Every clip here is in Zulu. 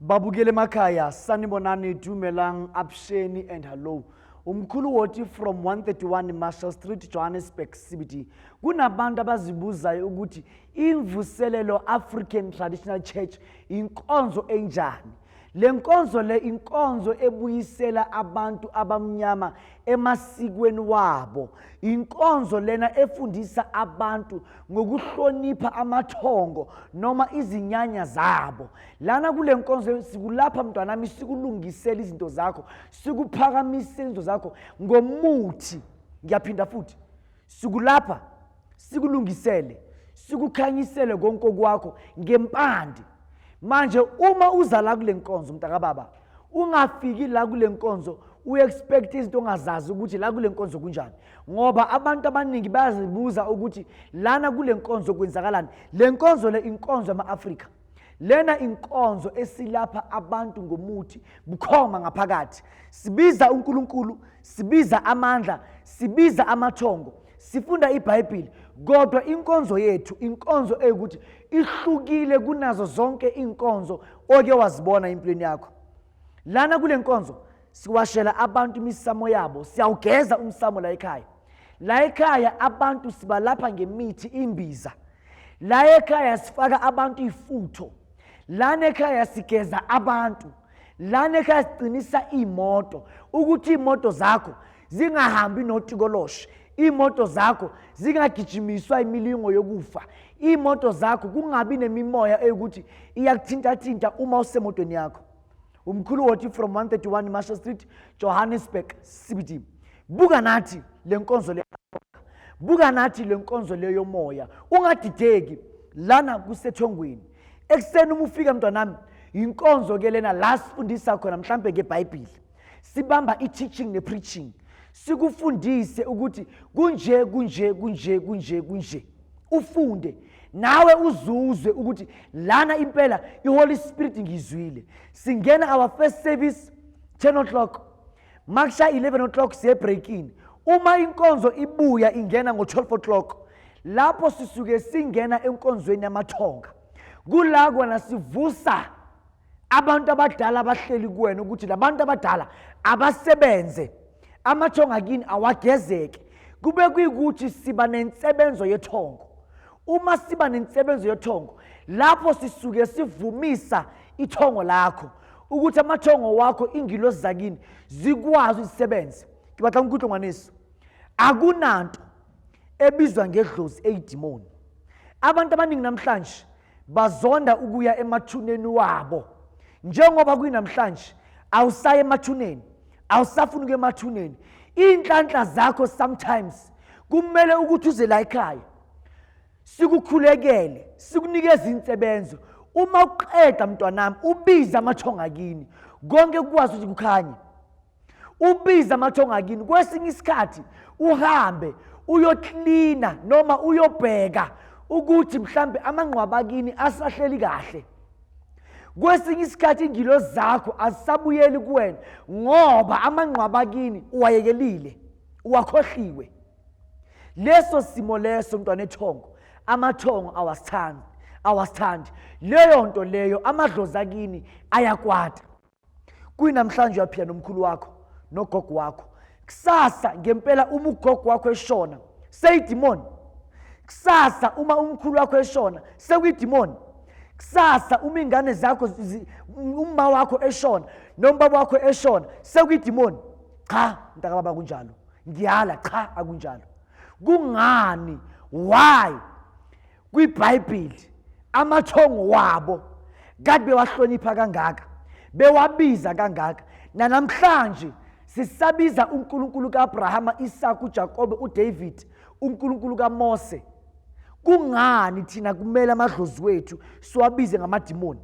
babukele emakhaya sanibonani dumelang absheni and hallo umkhulu woti from 131 marshall street johannesburg cbd kunabantu abazibuzayo ukuthi imvuselelo african traditional church inkonzo enjani Le nkonzo le inkonzo ebuyisela abantu abamnyama emasikweni wabo. Inkonzo lena efundisa abantu ngokuhlonipha amathongo noma izinyanya zabo. Lana kule nkonzo sikulapha mntwanami sikulungisela izinto zakho, sikuphakamisela izinto zakho ngomuthi. Ngiyaphinda futhi. sikulapha sikulungisele sikukhanyisele konke okwakho ngempande manje uma uza la kule nkonzo mntakababa ungafiki la kule nkonzo uexpect izinto ongazazi ukuthi la kule nkonzo kunjani ngoba abantu abaningi bayazibuza ukuthi lana kule nkonzo kwenzakalani le nkonzo le inkonzo yama-afrika lena inkonzo esilapha abantu ngomuthi bukhoma ngaphakathi sibiza uNkulunkulu sibiza amandla sibiza amathongo sifunda ibhayibhili kodwa inkonzo yethu inkonzo eyukuthi ihlukile kunazo zonke iinkonzo oke wazibona empilweni yakho lana kule nkonzo siwashela abantu imisamo yabo siyawugeza umsamo la ekhaya la ekhaya abantu sibalapha ngemithi imbiza la ekhaya sifaka abantu ifutho lana ekhaya sigeza abantu lana ekhaya siqinisa iy'moto ukuthi iy'moto zakho zingahambi notikoloshe iy'moto zakho zingagijimiswa imilingo yokufa iy'moto zakho kungabi nemimoya eyokuthi iyakuthintathinta uma usemotweni yakho umkhulu wothi from 131 marshall street johannesburg cbd buka nathi le nkonzo le buka nathi le nkonzo le yomoya ungadideki lana kusethongweni ekuseni uma ufika mntwanami yinkonzo ke lena la sifundisa khona mhlampe ke bhayibhile sibamba i-teaching ne-preaching sikufundise ukuthi kunje kunje kunje kunje kunje ufunde nawe uzuzwe ukuthi lana impela iholy spirit ngiyizwile singena our first service 10 o'clock makusha 11 o'clock siyebreakini uma inkonzo ibuya ingena ngo-12 o'clock lapho sisuke singena enkonzweni yamathonga kula kona sivusa abantu abadala abahleli kuwena ukuthi labantu abadala abasebenze amathonga kini awagezeke kube kuyikuthi siba nensebenzo yethongo uma siba nensebenzo yethongo lapho sisuke sivumisa ithongo lakho ukuthi amathongo wakho ingilosi zakini zikwazi uzisebenze ngibatla ukuthi ngwanisa akunanto ebizwa ngedlozi eyidimoni abantu abaningi namhlanje bazonda ukuya emathuneni wabo njengoba kwinamhlanje awusaye emathuneni awusafuni ukuya emathuneni iy'nhlanhla zakho sometimes kumele ukuthi uze la ekhaya sikukhulekele sikunikeze insebenzo uma uqeda mntwanami ubize amathonga kini konke kukwazi ukuthi kukhanye ubiza amathonga kini kwesinye isikhathi uhambe uyoklina noma uyobheka ukuthi mhlambe amangqwaba kini asahleli kahle kwesinye isikhathi ingilo zakho azisabuyeli kuwena ngoba amangqwaba kini uwayekelile uwakhohliwe leso simo leso mntwana ethongo amathongo awasithandi awasithandi leyo nto leyo amadlozi akini ayakwata kuyinamhlanje uyaphila nomkhulu wakho nogogo wakho kusasa ngempela uma ugogo wakho eshona seyidimoni kusasa uma umkhulu wakho eshona sekuyidimoni kusasa uma ingane zakho umma wakho eshona nombaba wakho eshona sekuyidimoni cha mntakababa kunjalo ngiyala cha akunjalo kungani why KwiBhayibheli amathongo wabo kade bewahlonipha kangaka, bewabiza kangaka. Nanamhlanje sisabiza uNkulunkulu kaAbrahama, Isaka, uJakobe, uDavid, uNkulunkulu kaMose. Kungani thina kumele amadlozi wethu siwabize ngamadimoni?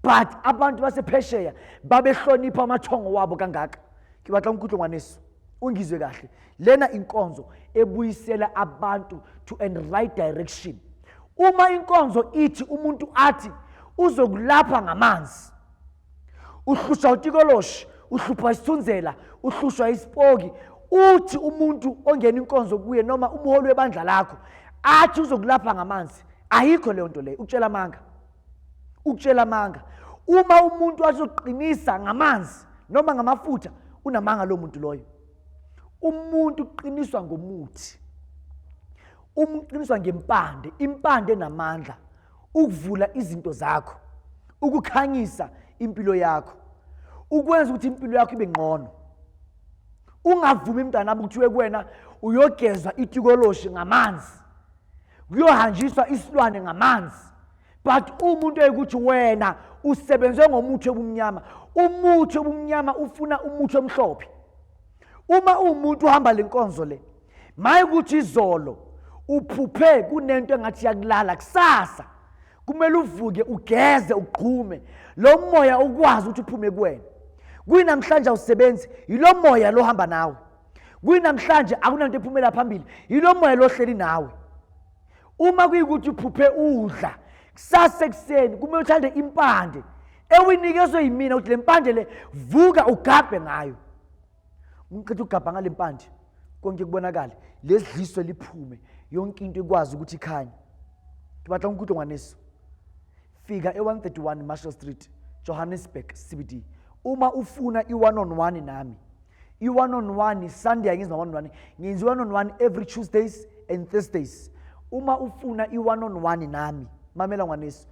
But abantu basephesheya babehlonipha amathongo wabo kangaka. Ke batla nkutlongwaneso. Ungizwe kahle. lena inkonzo ebuyisela abantu to an right direction uma inkonzo ithi umuntu athi uzokulapha ngamanzi uhlushwa utikoloshi uhluphwa isithunzela uhlushwa isipoki uthi umuntu ongena inkonzo kuye noma umholi webandla lakho athi uzokulapha ngamanzi ayikho leyo nto leyo ukutshela amanga ukutshela amanga uma umuntu azoqinisa ngamanzi noma ngamafutha unamanga lo muntu loyo umuntu uqiniswa ngomuthi uma uqiniswa ngempande impande enamandla ukuvula izinto zakho ukukhanyisa impilo yakho ukwenza ukuthi impilo yakho ibe ngcono ungavumi mntanami kuthiwe kuwena uyogezwa itikoloshi ngamanzi kuyohanjiswa isilwane ngamanzi but uma into eyikuthi wena usebenze ngomuthi obumnyama umuthi obumnyama ufuna umuthi omhlophe uma uwumuntu uhamba le nkonzo le maye ukuthi izolo uphuphe kunento engathi yakulala kusasa kumele uvuke ugeze ugqume lo moya ukwazi ukuthi uphume kuwena kuyinamhlanje awusebenzi yilo moya lohamba nawe kuyinamhlanje akunanto ephumela phambili yilo moya lohleli nawe uma kuyikuthi uphuphe udla kusasa ekuseni kumele uthande impande ewinikezwe yimina ukuthi le mpande le vuka ugabhe ngayo umqeda ugabha ngale mpande konke kubonakale lesidliso liphume yonke into ikwazi ukuthi ikhanye ngibatla umkhudo ngwaneso fika e-131 Marshall Street, Johannesburg CBD. Uma ufuna i-one on one nami, i-one on one Sunday angenzi no-one on one, ngenza i-one on one every Tuesdays and Thursdays. Uma ufuna i-one on one nami, mamela ngwaneso,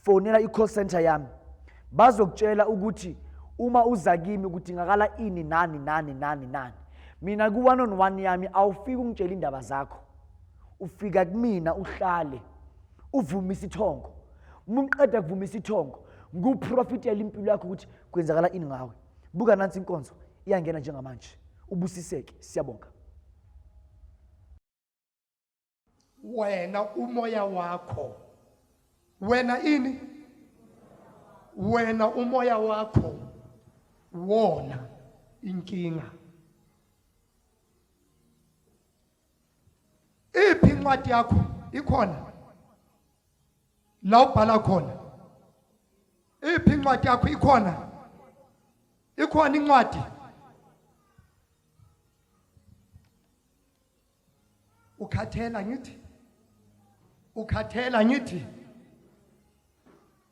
fonela i-call center yami. Bazokutshela ukuthi uma uza kimi kudingakala ini nani nani nani nani. Mina ku-one on one yami awufiki ungitshela indaba zakho. Ufika kumina uhlale. uvuma isithongo uma uqeda kuvuma isithongo nguprofitela impilo yakho ukuthi kwenzakala ini ngawe buka nansi inkonzo iyangena njengamanje ubusiseke siyabonga wena umoya wakho wena ini wena umoya wakho wona inkinga iphi incwadi yakho ikhona la ubhala khona iphi incwadi yakho ikhona ikhona incwadi ukhathela ngithi ukhathela ngithi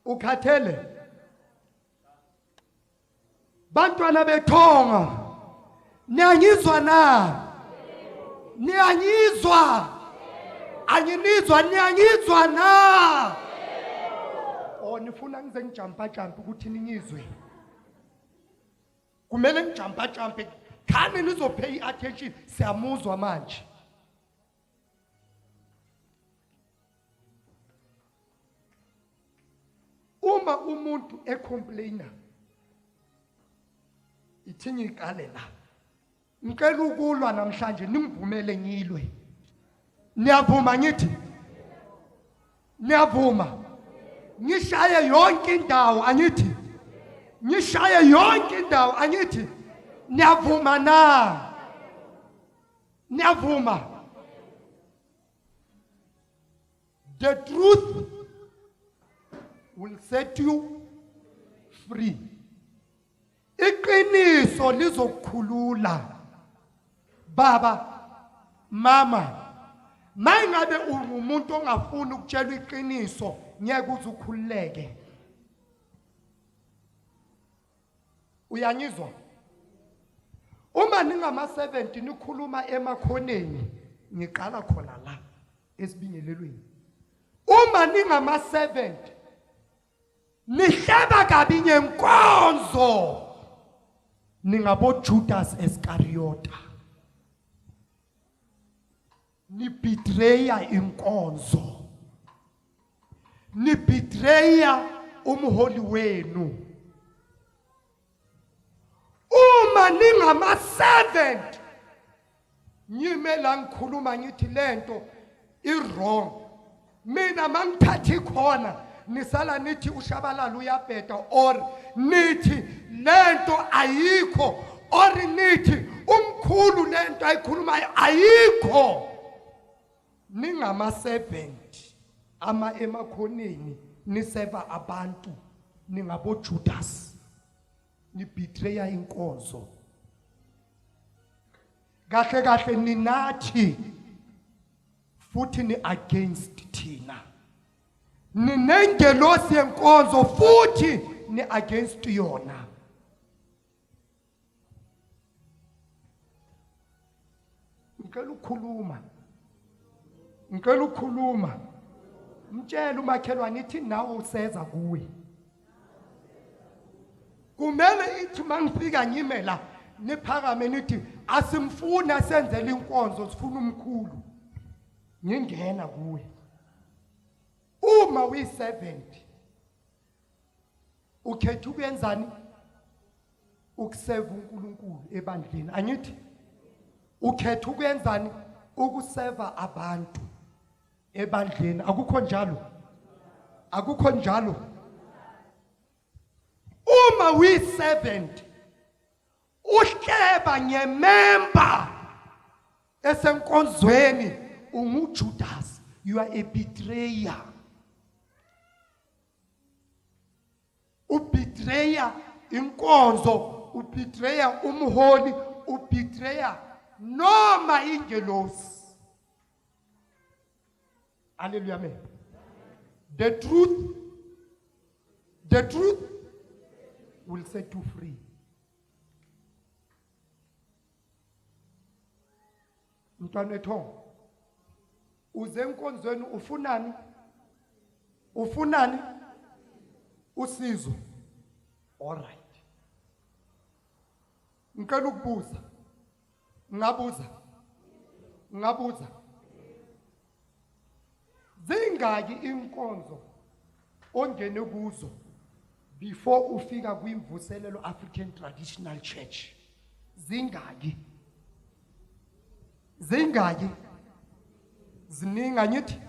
ukhathele Bantwana bethonga niyangizwa na? Niyangizwa? Anginizwa niyangizwa na? Oh nifuna ngize ngijampa jampa ukuthi ningizwe. Kumele ngijampa jampe khani nizophe iattention siyamuzwa manje. uma umuntu ecomplaina ithini iqale la ngicela ukulwa namhlanje nimvumele ngilwe niyavuma ngithi niyavuma ngishaye yonke indawo angithi ngishaye yonke indawo angithi niyavuma na niyavuma the truth will set you free iqiniso lizokukhulula baba mama mayingabe ungumuntu ongafuni ukutshelwa iqiniso ngeke uze ukhululeke uyangizwa uma ningama 70 nikhuluma emakhoneni ngiqala khona la esibingelelweni uma ningama 70 nihleba kabi ngenkonzo ningabojudas eskariyota nibitreya inkonzo nibitreya umholi wenu uma ningama servant nyime la ngikhuluma ngithi lento i wrong mina mangithatha ikhona nisala nithi ushabalala uyabheda or nithi lento ayikho or nithi umkhulu lento ayikhulumayo ayikho ningama 70 ama emakhoneni niseva abantu ningabo Judas nibetreya inkonzo kahle kahle ninathi futhi ni against thina ninengelosi yenkonzo futhi ni against yona ngicela ukukhuluma ngicela ukukhuluma mtshela umakhelwane ithi nawe useza kuwe kumele ithi uma ngifika ngime la niphakame nithi asimfuni asenzele inkonzo sifuna umkhulu ngingena kuwe uma uyi-70 ukhetha ukuyenzani ukuseva uNkulunkulu ebandleni angithi ukhetha ukwenzani ukuseva abantu ebandleni akukho njalo akukho njalo uma uyi-70 uhleba ngememba esenkonzweni ungujudasi you are a betrayer ubetreya inkonzo ubetreya umholi ubetreya noma ingelosi Hallelujah. Amen. The truth, the truth will set you free. Mntwana ethongo uze enkonzweni ufunani? Ufunani? Usizo. All right. Ngicela ukubuza. Ngabuza. Ngabuza. Zingaki inkonzo ongene kuzo before ufika kwimvuselelo African Traditional Church? Zingaki? zingaki ziningi angithi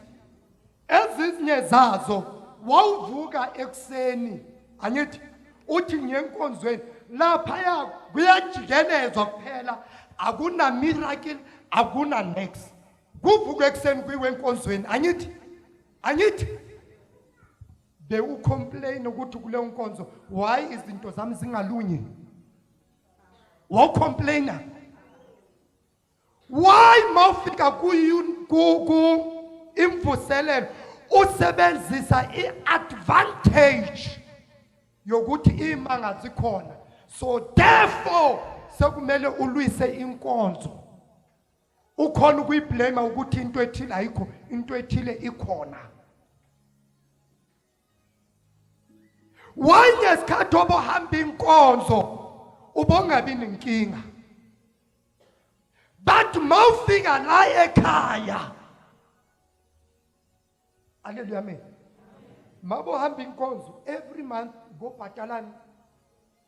ezinye zazo wawuvuka ekuseni angithi uthi ngenkonzweni laphaya kuyajikelezwa kuphela akuna miracle akuna next kuvuka ekuseni kwiwenkonzweni angithi angithi be u complain ukuthi kule nkonzo why izinto zami zingalunyi wawcomplaina why mawufika ku ku ku imvuselelo usebenzisa iadvantage yokuthi imanga zikhona so therefore sekumele ulwise inkonzo ukhona ukuyiblame ukuthi into ethile ayikho into ethile ikhona why ngesikhathi obohamba inkonzo ubongabi nenkinga but mawufika la ekhaya aleluya amen mabohamba inkonzo every month ngobhatalani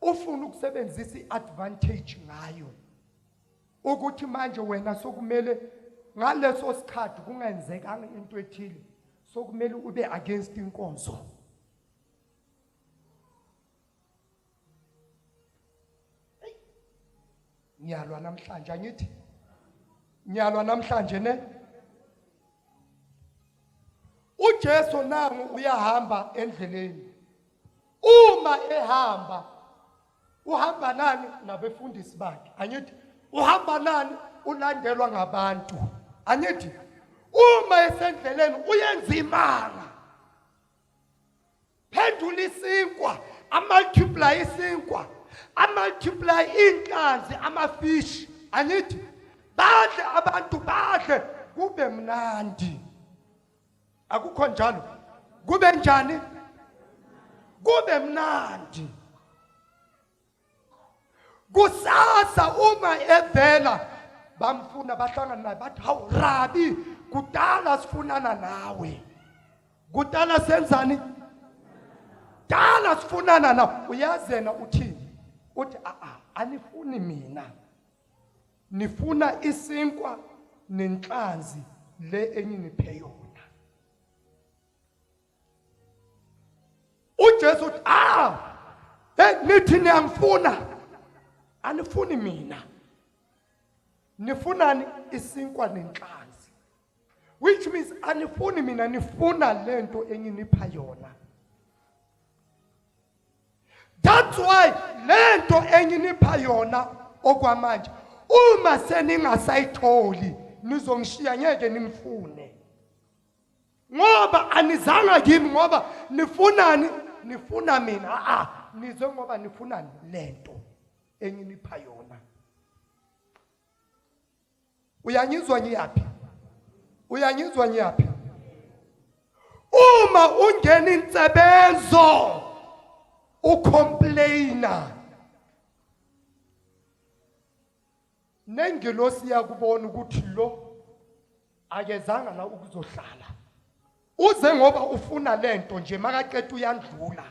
ufuna ukusebenzisa iadvantage ngayo ukuthi manje wena sokumele ngaleso sikhathi kungenzekanga into ethile sokumele ube against inkonzo ngiyalwa namhlanje angithi ngiyalwa namhlanje ne uJesu nangu uyahamba endleleni uma ehamba uhamba nani nabefundisi bakhe angithi uhamba nani ulandelwa ngabantu angithi uma esendleleni uyenza imanga phendula isinkwa amultiply isinkwa amultiply inhlanzi amafish angithi badle abantu badle kube mnandi akukho njalo kube njani kube mnandi kusasa uma evela bamfuna bahlangana naye bathi hawu rabi kudala sifunana nawe kudala senzani dala sifunana nawe uyazena uthini uthi a-a anifuni mina Nifuna isinkwa nenhlanzi le enyiniphe yona. UJesu uthi ah hey nithi niyangifuna anifuni mina. Nifunani isinkwa nenhlanzi. Which means anifuni mina nifuna lento enginipha yona. That's why lento enginipha yona okwamanje uma seningasayitholi nizongishiya ngeke ningifune ngoba anizanga kimi ngoba nifunani nifuna mina a ah, ah, nize ngoba nifunani lento enginipha yona uyangizwa ngiyaphi uyangizwa ngiyaphi uma ungena insebenzo ucomplaina nengilosi yakubona ukuthi lo akezanga la ukuzohlala uze ngoba ufuna lento nje makaqeda uyandlula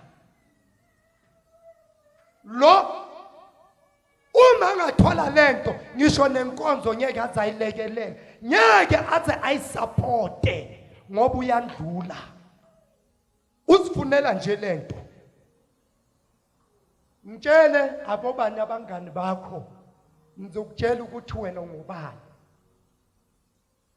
lo uma ngathola lento ngisho nenkonzo ngeke aze ayilekelele ngeke aze ayisupporte ngoba uyandlula uzifunela nje lento ngitshele abobani abangani bakho ngizokutshela ukuthi wena ngubani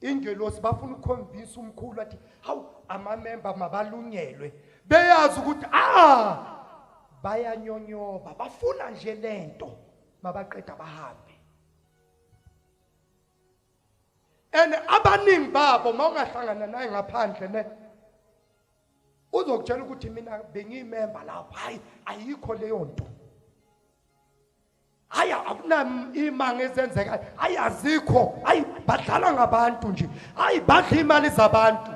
ingelosi bafuna ukukhonvinsa umkhulu athi hawu amamemba mabalungelwe beyazi ukuthi ah bayanyonyoba bafuna nje lento mabaqeda bahambe and abaningi babo mawungahlangana naye ngaphandle ne uzokutshela ukuthi mina bengiyimemba lapha hayi ayikho leyo nto hayi akunaimango ezenzekayo hayi azikho hayi badlala ngabantu nje hayi badla imali zabantu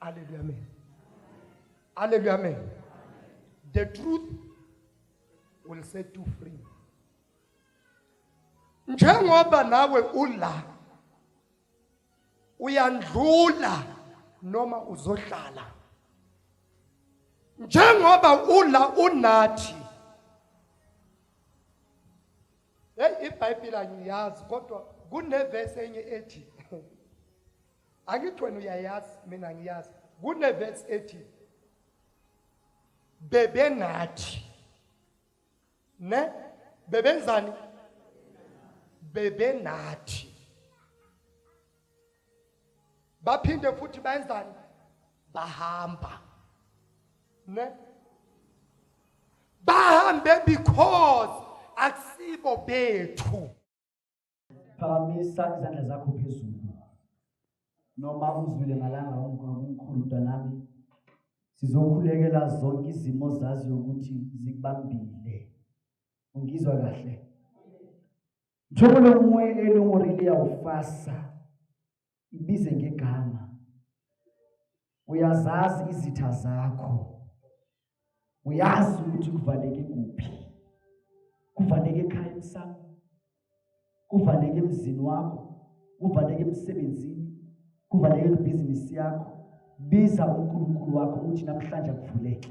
Hallelujah, amen. Hallelujah, amen. The truth will set you free. Njengoba nawe ula uyandlula noma uzohlala njengoba ula unathi hey ibhayibheli angiyazi kodwa kunevesi enye ethi angithi wena uyayazi mina ngiyazi kunevesi ethi bebenathi ne bebenzani bebenathi baphinde futhi benzani bahamba ne bahambe because akusibo bethu phakamisa izandla zakho phezulu noma uzwile ngalanga umkhulu mntanami sizokhulekela zonke izimo zazi ukuthi zikubambile ungizwa kahle njengoba lomoya elongorili yawufasa ibize ngegama uyazazi izitha zakho uyazi ukuthi kuvaleke kuphi kuvaleke ekhaya emsamo kuvaleke emzini wakho kuvaleke emsebenzini kuvaleke kwibhizinisi yakho biza uNkulunkulu wakho uthi namhlanje akuvuleke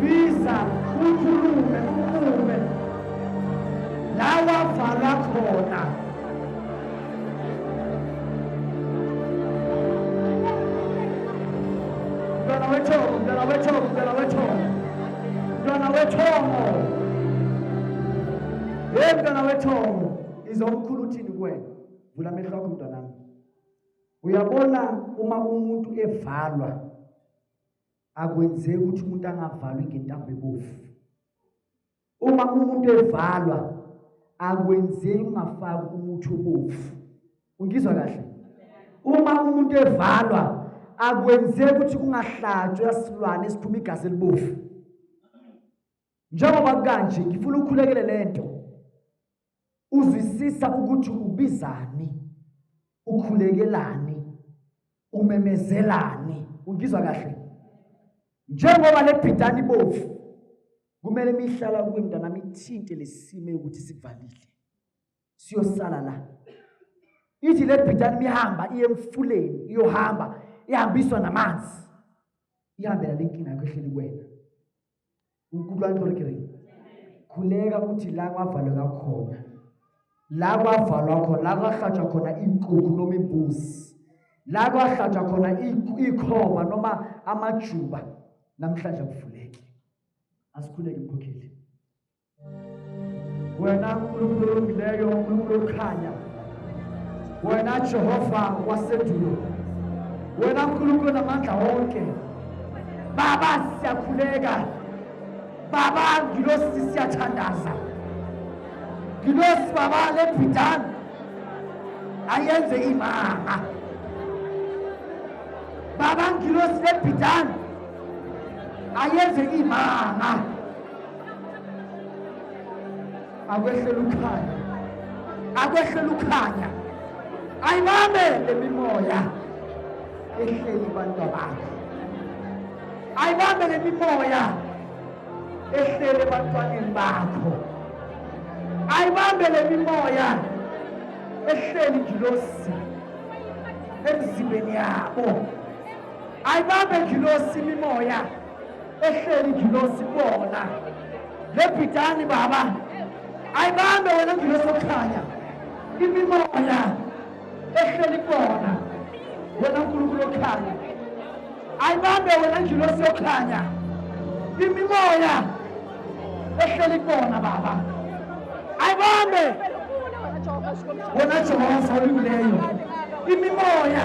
Visa ukhulume ukhulume la wavala khona mntwana wethongo mntwana wethongo mntwana wethongo mntwana wethongo ye mntwana wethongo izomkhulu uthini kuwena vula amehlo akho mntwanami Uyabona uma umuntu evalwa akwenzeki ukuthi umuntu angavalwi ngentambo ebovu. Uma umuntu evalwa akwenzeki ungafaki umuthi obovu. Ungizwa kahle? Uma umuntu evalwa akwenzeki ukuthi kungahlatshwa isilwane esiphuma igazi elibovu. Njengoba kukanje ngifuna ukhulekele lento. Uzwisisa ukuthi ubizani, ukhulekelani, umemezelani, ungizwa kahle. Njengoba lebhidani bovu kumele mihlala kuwe mntana mithinte lesime ukuthi sivalile. Siyosala la. Ithi lebhidani mihamba iye emfuleni, iyohamba, ihambiswa namanzi. Ihambela lenkinga yakho ehleli kuwena. ukutlwani gore ke reng khuleka ukuthi la kwavaleka khona la kwavalwa khona la kwahlatshwa khona iinkukhu noma iimbuzi la kwahlatshwa khona iikhova noma amajuba namhlanje kuvuleke asikhuleke mkhokheli wena nkulunkulu olungileyo nkulunkulu okhanya wena jehova wasedulo wena nkulunkulu namandla wonke baba siyakhuleka baba ngilosi siyathandaza ngilosi baba lebhidana ayenze imanga baba ngilosi lebhidana ayenze imanga akwehlela ukhanya akwehlela ukhanya ayibambe lemimoya ehleli abantu abakhe ayibambe lemimoya ehlele ebantwaneni bakho ayibambe lemimoya ehleli ngilosi emzimbeni yabo ayibambe ngilosi imimoya ehleli ingilosi bona lebhidani baba ayibambe wena ngilosi okukhanya imimoya ehleli bona wena nkulunkulu okhanya ayibambe wena ngilosi okhanya imimoya ehleli bona baba ayibambe wena jehova olikuleyo imimoya